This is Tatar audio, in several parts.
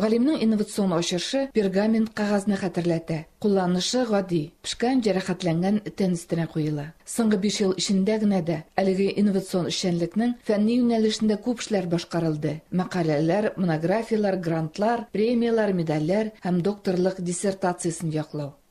Галимнең инновацион ачышы пергамент кагазны хәтерләтә. Кулланышы гади, пшкан җәрәхәтләнгән тән өстенә куела. Соңгы биш ел эчендә генә дә әлеге инновацион эшчәнлекнең фәнни юнәлешендә күп эшләр башкарылды, мәкаләләр, монографияләр, грантлар, премияләр, медальләр һәм докторлык диссертациясен яклау.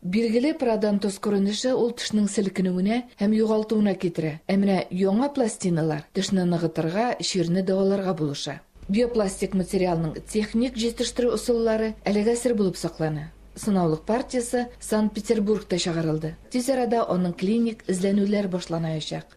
Билгеле, парадонтоз күренеше ул тешнең селкенүенә һәм югалтуына китерә, ә менә яңа пластиналар тешне ныгытырга, чирне дәваларга булыша. Биопластик материалның техник җитештерү ысуллары әлегә сер булып саклана. Сынаулык партиясе Санкт-Петербургта чыгарылды. Тиз арада аның клиник эзләнүләр башланаячак.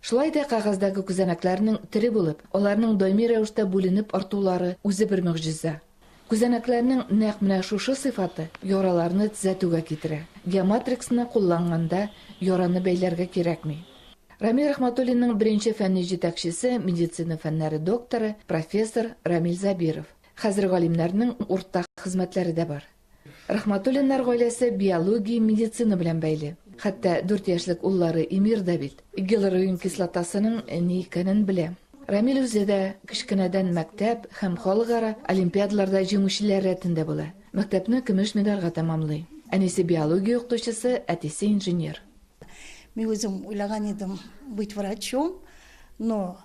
Шулай да кәгазьдәге күзәнәкләрнең тере булып, аларның даими рәвештә бүленеп артулары үзе бер могҗиза. Күзәнәкләрнең нәкъ менә шушы сыйфаты яраларны тзәтүгә китерә. Геоматриксны кулланганда яраны бәйләргә кирәкми. Рамил Рәхмәтуллинның беренче фәнни җитәкчесе, медицина фәннәре докторы, профессор Рамил Забиров. Хәзер галимнәрнең уртак хезмәтләре дә бар. Рахматуллиннар гаиләсе биология, медицина белән бәйле. Хәтта дүрт яшьлек уллары Эмир да бит гиалуронин кислотасының ни икәнен белә. Рамил үзе дә кечкенәдән мәктәп һәм халыкара олимпиадаларда җиңүчеләр рәтендә була. Мәктәпне көмеш медальгә тәмамлый. Әнисе биология укытучысы, әтисе инженер. Мин үзем уйлаган идем быть врачом, но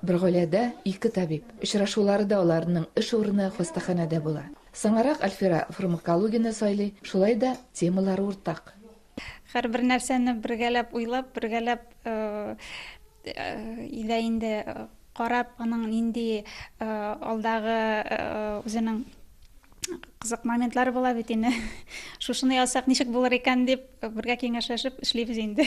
Бер гаиләдә ике табиб. Очрашулары да аларның эш урыны, хастаханәдә була. Соңарак Альфира фармакологияне сайлый, шулай да темалары уртак. Һәрбер нәрсәне бергәләп уйлап, бергәләп илә инде карап, аның нинди алдагы үзенең кызык моментлары була бит инде. Шушыны язсак ничек булыр икән дип, бергә киңәшләшеп эшлибез инде.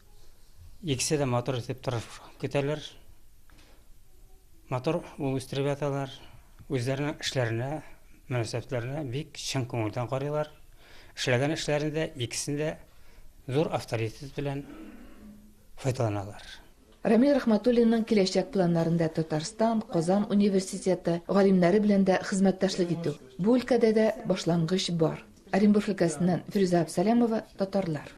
Икесе дә матур итеп тырып көтәләр. Матур ул үстереп яталар. Үзләренең эшләренә, мөнәсәбәтләренә бик чын күңелдән карыйлар. Эшләгән эшләрендә икесендә зур авторитет белән файдаланалар. Рамил Рәхмәтуллинның киләчәк планнарында Татарстан, Казан университеты галимнәре белән дә хезмәттәшлек итү. Бу өлкәдә дә башлангыч бар. Оренбург өлкәсеннән Фирүзә Абсалямова, татарлар.